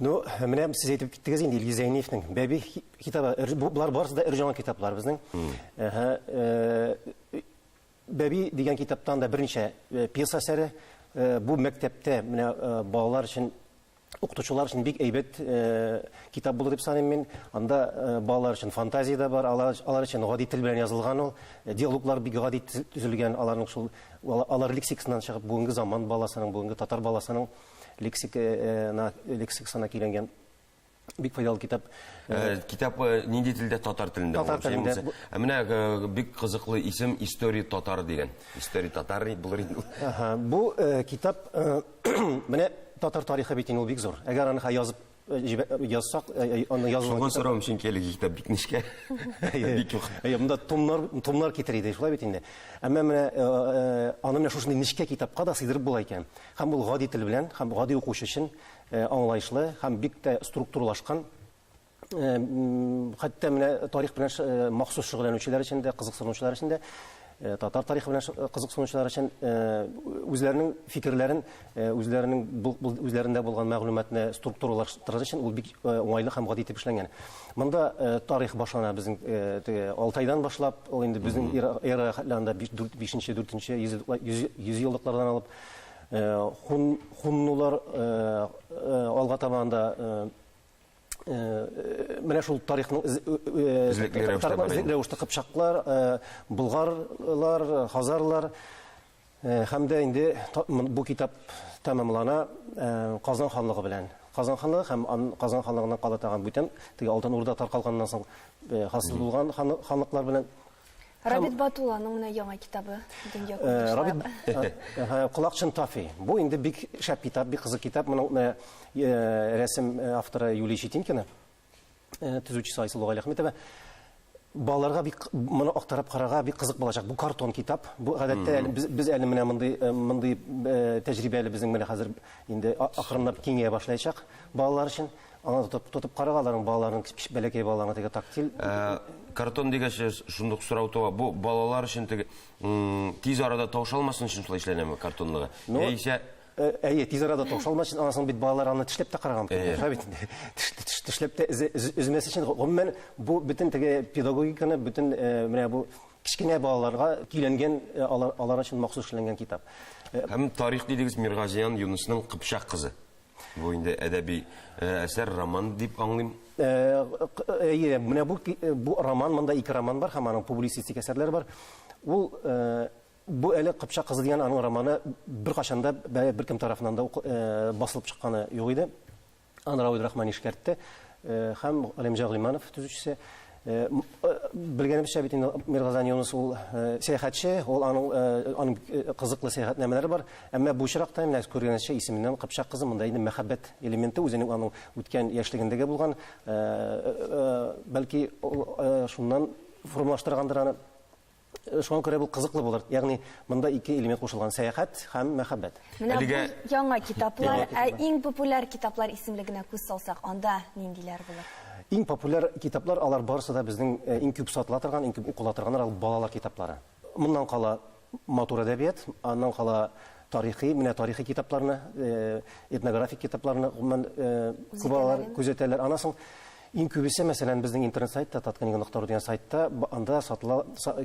Ну, менә сез әйтеп киттегез инде Илгиз Зәйниевнең Бәби китабы. Болар барысы да өр-яңа китаплар безнең. Э, Бәби дигән китаптан да берничә э, пьеса әсәре. Э, бу мәктәптә менә балалар өчен укытучылар өчен бик әйбәт китап булды дип саныйм мин. Анда балалар өчен фантазия да бар, алар, алар өчен гади тел белән язылган ул. Диалоглар бик гади төзелгән, аларның шул алар лексикасыннан чыгып бүгенге заман баласының, бүгенге татар баласының лексикына лексикасына килгән бик файдалы китап. Э, э, китап э, нинди телдә татар телендә? Татар телендә. Ә менә бик кызыклы исем История татар дигән. История татар булыр инде. Аха, бу китап менә татар тарихы бит инде ул бик зур. Әгәр аны язып Язсак, аны язу. Шуңа сорам, чөнки әлеге китап бик нечкә. Бик юк. Әйе, монда томнар, томнар китер иде, шулай бит инде. Әмма менә аны менә шушындый нечкә китапка да сыйдырып була икән. Һәм ул гади тел белән, һәм гади укучы өчен аңлаешлы һәм бик тә структуралашкан хәтта менә тарих белән махсус шөгыльләнүчеләр өчен дә, кызыксынучылар өчен дә Э, татар тарихы белән э, кызыксынучылар өчен э, үзләренең фикерләрен үзләренең үзләрендә булган мәгълүматны структуралаштырыр өчен ул бик уңайлы һәм гади итеп эшләнгән монда тарих башлана безнең теге алтайдан башлап ул инде безнең эра хәтләрендә бишенче дүртенче йөз еллыклардан алып хун хуннулар алга таба анда Э, менә шул тарихның эзлекле рәвештә кыпчаклар э, болгарлар хазарлар э, һәм дә инде бу китап тәмамлана казан ханлыгы белән казан ханлыгы һәм казан ханлыгыннан кала тагын бүтән теге алтын урда таркалганнан соң хасил булган ханлыклар белән Рабит Батулланың менә яңа китабы дөнья күрде. Рабит Колакчын Тафи. Бу инде бик шәп китап, бик кызык китап. Моның менә рәсем авторы Юлия Щетинкина, төзүчесе Айсылу Галиәхметова. Балаларга бик моны актарып карарга бик кызык булачак. Бу картон китап. Бу гадәттә без без әле менә мондый мондый тәҗрибә әле безнең менә хәзер инде акрынлап киңәя башлаячак балалар өчен. Аңа тотып, тотып карага аларның балаларын, бәләкәй балаларны теге тактиль. Ә, картон дигәч, шундук сорау туа. Бу балалар өчен теге тиз арада тавыша алмасын өчен шулай эшләнәме картонлыгы? Ну, Яисә э, Әйе, тиз арада тавыша алмас өчен, аннан соң бит балалар аны тешләп тә караган. Шулай бит. Тешләп тә өзмәс өчен, гомумән, бу бөтен теге педагогиканы, бөтен э, менә бу кечкенә балаларга көйләнгән, э, алар, алар өчен махсус эшләнгән китап. Һәм тарих дидегез Миргазиян Юнысның Кыпчак кызы. Бу инде әдәби әсәр, роман дип аңлыйм. Әйе, менә бу бу роман, монда ике роман бар һәм аның публицистик әсәрләре бар. Ул бу әле Кыпчак кызы дигән аның романы беркайчан да беркем тарафыннан да басылып чыкканы юк иде. Аны Равил Рахмани эшкәртте һәм Галимҗан Гыйльманов төзүчесе. Э, э, белгәнебезчә бит инде миргазан юнус ул э, сәяхәтче ул аның аның кызыклы сәяхәтнамәләре бар әмма бу очракта менә күргәнегезчә исеменнән кыпчак кызы монда инде мәхәббәт элементы үзенең аның үткән яшьлегендәге булган бәлки шуннан формалаштыргандыр аны Шуңа күрә бу кызыклы булыр. Ягъни, монда ике элемент кушылган, сәяхәт һәм мәхәббәт. Менә Әлегә... бу яңа китаплар, ә иң популяр китаплар исемлегенә күз салсак, анда ниндиләр булыр? Иң популяр китаплар, алар барысы да безнең э, иң күп сатыла торган, иң күп укыла торганнар, алар балалар китаплары. Моннан кала матур әдәбият, аннан кала тарихи, менә тарихи китапларны, э, этнографик китапларны гомумән э, күп алалар, күзәтәләр. Аннан соң Иң күбесе, мәсәлән, безнең интернет-сайтта, Таткнига нокта ру дигән сайтта, анда сатыла,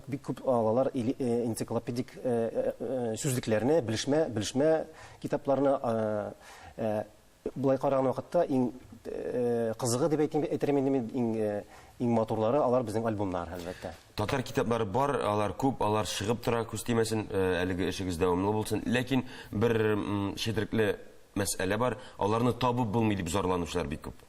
бик күп алалар энциклопедик сүзлекләрне, белешмә, белешмә китапларны. Болай караган вакытта, иң кызыгы дип әйтим, әйтермен инде мин, иң, иң матурлары, алар безнең альбомнар, әлбәттә. Татар китаплары бар, алар күп, алар чыгып тора, күз тимәсен, әлеге эшегез дәвамлы булсын. Ләкин бер четерекле мәсьәлә бар, аларны табып булмый, дип зарланучылар бик күп.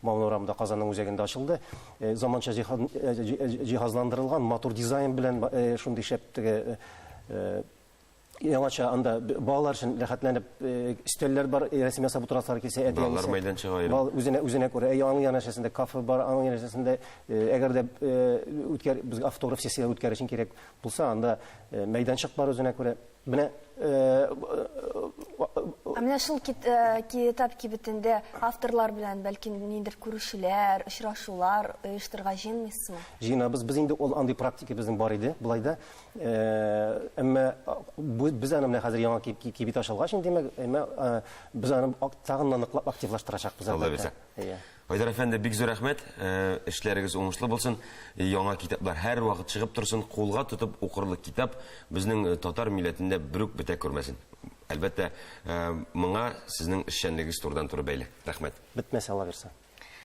Мал урамы да Казанның үзәгендә ачылды. Заманча җиһазландырылган, матур дизайн белән шундый шәп теге яңача анда балалар өчен рәхәтләнеп өстәлләр бар, рәсем ясап утырасылар килсә, әти-әнисе. Балалар мәйданчыгы аерым. Бал үзенә үзенә күрә. Әйе, аның янәшәсендә кафе бар, аның янәшәсендә, әгәр дә үткәр без автограф сессияләр үткәрер өчен кирәк булса, анда мәйданчык бар үзенә күрә. Менә Ә менә шул китап кибетендә авторлар белән бәлки ниндер күрешүләр, очрашулар оештырга җыенмыйсызмы? Җыенабыз. Без инде ул андый практика безнең бар иде, болай да. Әмма без аны менә хәзер яңа кибет ачылгач инде, әмма без аны тагын ныклап активлаштырачакбыз. Алла бирсә. Әйе. Айдар әфәнде, бик зур рәхмәт. Эшләрегез уңышлы булсын. Яңа китаплар һәрвакыт чыгып торсын. Кулга тотып укырлык китап безнең татар милләтендә берүк бетә күрмәсен. Әлбәттә, моңа сезнең эшчәнлегегез турыдан-туры бәйле. Рәхмәт. Бетмәсен, аллабирса.